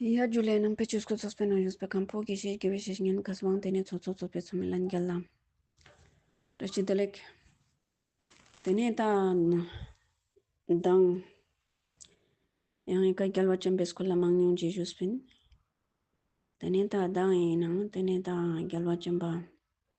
ཡར་རྒྱུགས་ལས་རྣམ་པའི་སྤྱོད་སྒོ་རྫོགས་པའི་ནང་ཡོད་པའི་ཁམས་ཕུག་གི་ཞེས་བགྱི་བའི་བཤེས་གཉེན་གསོལ་བའང་དེ་ནས་ཚོགས་གཙོ་གཙོ་པའི་ཚོགས་མི་ལ་མཇལ་ལམ། སྒྲ་ཕྱི་བདེ་ལེགས། དེ་ནས་ད་གདངས། ཡང་ཡི་ག་རྒྱལ་བ་ཆེན་པོས་སྐུ་ལ་མང་ཉུང་རྗེས་གཞུག་སྤེལ། དེ་ནས་ད་གདངས་ཡིན་ནམ་དེ་ནས་ད་རྒྱལ་བ་ཆེན་པོ།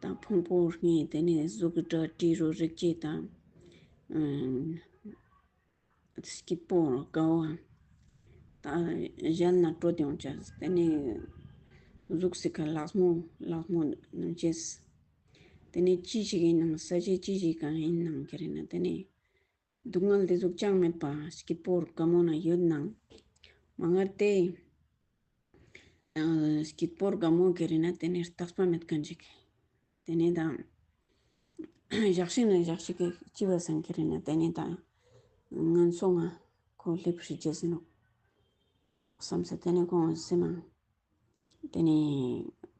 དང་ཕུང་པོ་གཉིས་དེ་ནི་གཟུགས་སྒྲ་དྲི་རོ་རེག་བྱ་དང་སྐྱིད་པོ་དགའ་བ་དང་གཞན་ལ་སྤྲོ་སྐྱོང་བྱ་དེ་ནི་གཟུགས་སུ་ག་ལགས་མོ་ལགས་མོ་རྣམས་བྱས་དེ་ནི་ཅི་ཞིག་ཡིན་ནམ་ས་ཆ་ཅི་ཞིག་གང་ཡིན་ནམ་དེ་རིང་ན་དེ་ནི་སྡུག་བསྔལ་འདི་གཟུགས་ཅང་མེད་པ་ཞིག་པོར་དགའ་མོ་ན་ཡོད་སྣང། མ་མངལ་ཏེ། ཞིག་པོར་དགའ་མོ་གི་རིགས་ན་དེ་ནི་རྟགས་པ་མེད་དགའ་འཇིག། དེ་ནས་དང། བཞག་ཤིང་ན་བཞག་ཤིང་གི་ལྕི་བ་སྲང་གི་རིགས་ན་དེ་ནས་དང། ངན་སོང་ང་ཁོ་སླེབ་བྱེད་རྗེས་ཟིན་ནོ། བསམ་ས་དེ་ནས་གོང་བ་སེམས་མང། དེ་ནས་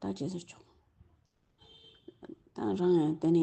ད་ཇི་ཟེར་ཆོག། ད་རང་ཡང་དེ་ནས་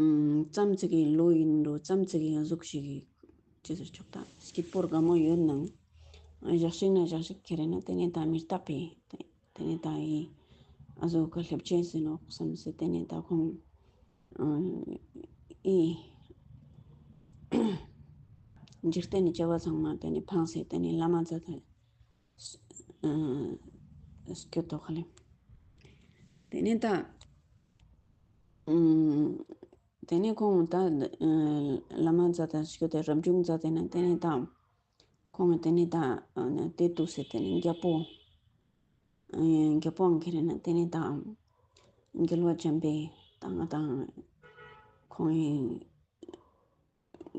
རྩམ་བཙིགས་ཡིན་ལོ་ཡིན་འགྲོ་རྩམ་བཙིགས་ཡིན་གཟུགས་ཤིག་ཡིན་ཅི་ཟེར་ཆོག་དང་སྐྱིད་པོར་དགའ་མོ་ཡོད་ནམ་བཞག་ཤིག་ན་བཞག་ཤིག་ཁྱེད་རེད་ན་དེ་ནས་ད་མི་རྟག་པས་དེ་ནས་ད་ཡིན་གཟོད་དགའ་སླེབས་ཆེན་ཟིན་ནོ་བསམ་ཟེར་དེ་ནས་ད་ཁོང་ཨིན། འཇིག་རྟེན་ནི་སྐྱེ་བ་ཚང་མ་དེ་ནས་འཕངས་ཟེར་དེ་ནས་བླ་མ་ཚ་དེ། སྐྱོ་དོགས་ཁ་ལེམ། དེ་ནས་ད། དེ་ནས་ཁོང་ད། བླ་མ་ཛཱ་ཏཱ་ཞུ་དེ་རབ་བྱུང་ཛཱ་ཏཱ་ནས་དེ་ནས་ད། ཁོང་གིས་དེ་ནས་ད། དེ་ཏུ་སེ་དེ་ནས་རྒྱལ་པོ། རྒྱལ་པོ་འང་ཁེ་རེ་ན་དེ་ནས་ད། འགལ་བ་འཇམ་པའི་ད་ང་དང། ཁོང།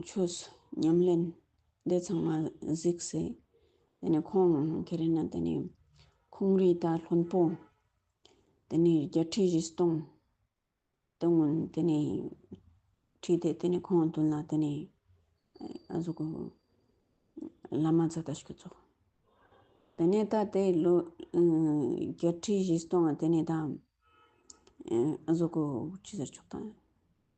ཆོས་ཉམས་ལེན་འདི་ཚང་མ་གཟིགས་སེ། དེ་ནས་ཁོང་གི་རེ་ན་དེ་ནས་ཁོང་རིགས་དང་ལྷུན་པོ། དེ་ནས་བརྒྱད་ཁྲི་བཞི་སྟོང་དེ་སྔོན་དེ་ནས་ཁྲིད་དེ་དེ་ནས་ཁོང་བདུན་ལ་དེ་ནས་གཟུགས་བླ་མ་ཚོ་ད་ཞིག་གཙོ། དེ་ནས་ད་དེ་ལོ་བརྒྱད་ཁྲི་བཞི་སྟོང་དེ་ནས་ད་གཟུགས་ཁུ་ཅི་ཟེར་ཆོག་དང།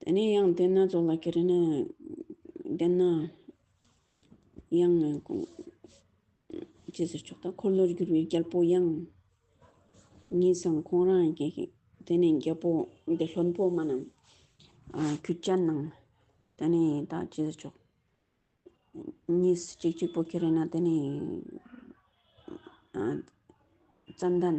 དེ་ནས་ཡང་བསྡད་ན་རྫོགས་ལ་ཁྱེད་རེ་ན་བསྡད་ན། ཡང་ནི་དགོངས། ཅེས་ཟེར་ཆོག་དང་འཁོར་ལོར་བསྒྱུར་བའི་རྒྱལ་པོ་ཡང། ངེས་སམ་ཁོང་རང་རྒྱལ་ཞིག་དེ་ནས་རྒྱལ་པོ་འདི་ལྷུན་པོ་མ་རྣམས། ཁྱོད་ཅག་རྣམས། དེ་ནས་ད་ཅེས་ཟེར་ཆོག། གཉིས་སུ་གཅིག་གཅིག་པོ་ཁྱེད་རེ་ན་དེ་ནས། རྩ་མདའ།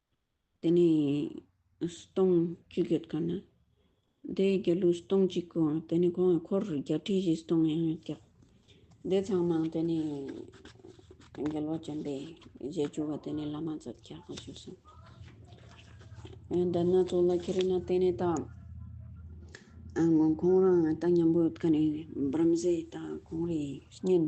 དེ་ནས་སྟོང་གཅིག་ཡོད་དཀའ་ན། དེའི་རྒྱལ་གླུ་སྟོང་གཅིག་གོ། དེ་ནས་གོང་གི་འཁོར་བརྒྱ་ཁྲི་བཞི་སྟོང་ཡང་ཡོད་ཀྱང། དེ་ཚང་མ་དེ་ནས་རྒྱལ་བ་བྱམས་པའི་རྗེས་འཇུག་བ་དེ་ནས་བླ་མ་ཚོ་བརྒྱ་དང་བཅུ་གསུམ། འདི་སྣ་ཚོགས་ལ་ཁྱེར་ན་དེ་ནས་དང། ཁོང་རང་ལྟ་སྙམ་པོ་དཀའ་ནས་འབར་མཛད་དང་གོང་རིགས་གཉན།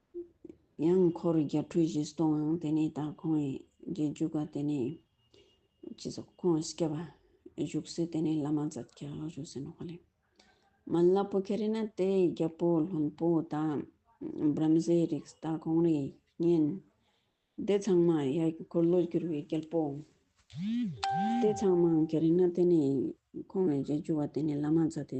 ཡང་འཁོར་བརྒྱ་འཕྲོས་བཞི་སྟོང་ཨང་དེ་ནས་ད་ཁོང་ཡི་རྗེས་རྒྱུག་ག་དེ་ནས་ཅི་ཟེར་ཁོང་ཨི་སྐྱབས་ཨ་བཞུགས་སེ་དེ་ནས་བླ་མ་ཛད་ཀྱི་ཨ་བཞུགས་སེ་ནོ་ཧོ་ལེ་མ་བླ་པོ་ཁེ་རེ་ན་དེ་ཡི་རྒྱལ་པོ་ལྷུན་པོ་ད་བྲམ་ཟེའི་རིགས་ད་ཁོང་རེ་གཉན་དེ་ཚང་མ་ཡ་འཁོར་ལོ་བསྒྱུར་བའི་རྒྱལ་པོ་དེ་ཚང་མ་ཨང་ཁེ་རེ་ན་དེ་ནས་ཁོང་ཡི་རྗེས་རྒྱུག་ག་དེ་ནས་བླ་མ་ཛད་དེ་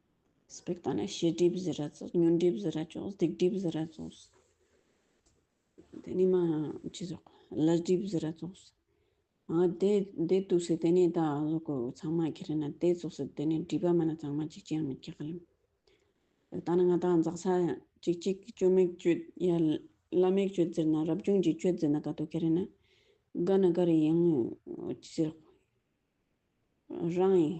སྤེགས་དང་ནི་ཕྱི་སྒྲིབ་བཟི་ར་ཙོག་ཉོན་སྒྲིབ་བཟི་ར་ཅོག་སྡིག་སྒྲིབ་བཟི་ར་ཙོག། དེ་ནས་མ་ཅི་ཟོག་བླ་སྒྲིབ་བཟི་ར་ཙོག། ཨ་དེ་དེ་དུག་སེ་དེ་ནས་ད་ཟོག་གོ་ཚང་མ་ཁེ་རེ་ན་དེ་ཙོག་སེ་དེ་ནས་སྒྲིབ་པ་མ་ན་ཚང་མ་ཅིག་ཅིག་མི་ཁེག་ལེམ། སྤེགས་དང་ནི་ང་དང་འཛག་ས་ཅིག་ཅིག་ཅོ་མེག་ཅོད་ཡ་བླ་མེག་ཅོད་བཟིར་ན་རབ་བྱུང་གི་ཅོད་བཟི་ན་ག་དུག་ཁེ་རེ་ན་ག་ན་ག་རེ་ཡིན་ཅི་ཟོག་རང་ཡིན།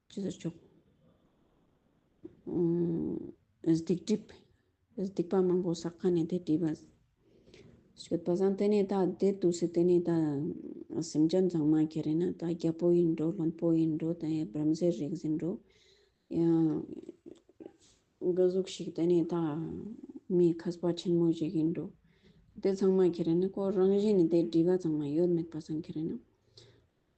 ཅི་ཟེར་བྱུང། སྡིག་སྒྲིབ་སྡིག་པ་མང་པོ་བསགས་པ་ནི་དེ་བྲིས་པ། ཞོད་པ་བཟང་དེ་ནི་དག་དེ་དུག་སེལ་དེ་ནི་དག། སེམས་ཅན་ཚང་མ་ཁྱེད་རེད་ན་དག་རྒྱ་པོ་ཡིན་འགྲོ་བློན་པོ་ཡིན་འགྲོ་དེ་ཡང་བྲམ་ཟེ་རིག་འཛིན་འགྲོ། ཡང་སྒྲོ་གཟུགས་ཤིག་དེ་ནི་དག། མི་ཁ་ཟ་བ་ཆེན་མོ་ཞིག་ཡིན་འགྲོ། དེ་ཚང་མ་ཁྱེད་རེད་ན་ཁོ་རང་བཞིན་ནི་དེ་བྲིས་པ་ཚང་མ་ཡོད་མེད་པ་ཚང་ཁྱེད་རེད་ན།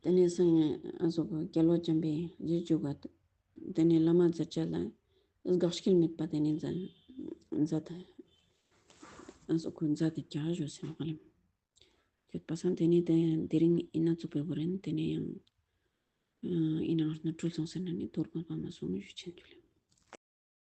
དེ་ནས་སངས་རྒྱས་ཨ་སོགས་ཀྱི་སྐྱེ་ལོ་བྱམས་པའི་རྗེས་བཅུག་པ། དེ་ནས་བླ་མ་རྫུ་བཅས་ལ་དགག་བྱའི་དམིགས་པ་དེ་ནས་མཛའ་ཐ་ཨ་སོགས་ཀྱི་མཛའ་དེ་བརྒྱ་བཞུགས་ཟིན་བཀའ་ལན་ཁྱོད་པ་སངས་དེ་ནས་དེ་དེ་རིང་ཨི་ན་ཙུག་པའི་བུ་རན་དེ་ནས་ཡང་ཨི་ན་ཨོར་ན་སྤྲུལ་སོང་ཟེར་ན་ནི་དོར་དགོངས་པ་མ་སོང་ཞུ་ཆེན་རྒྱུ་ལས།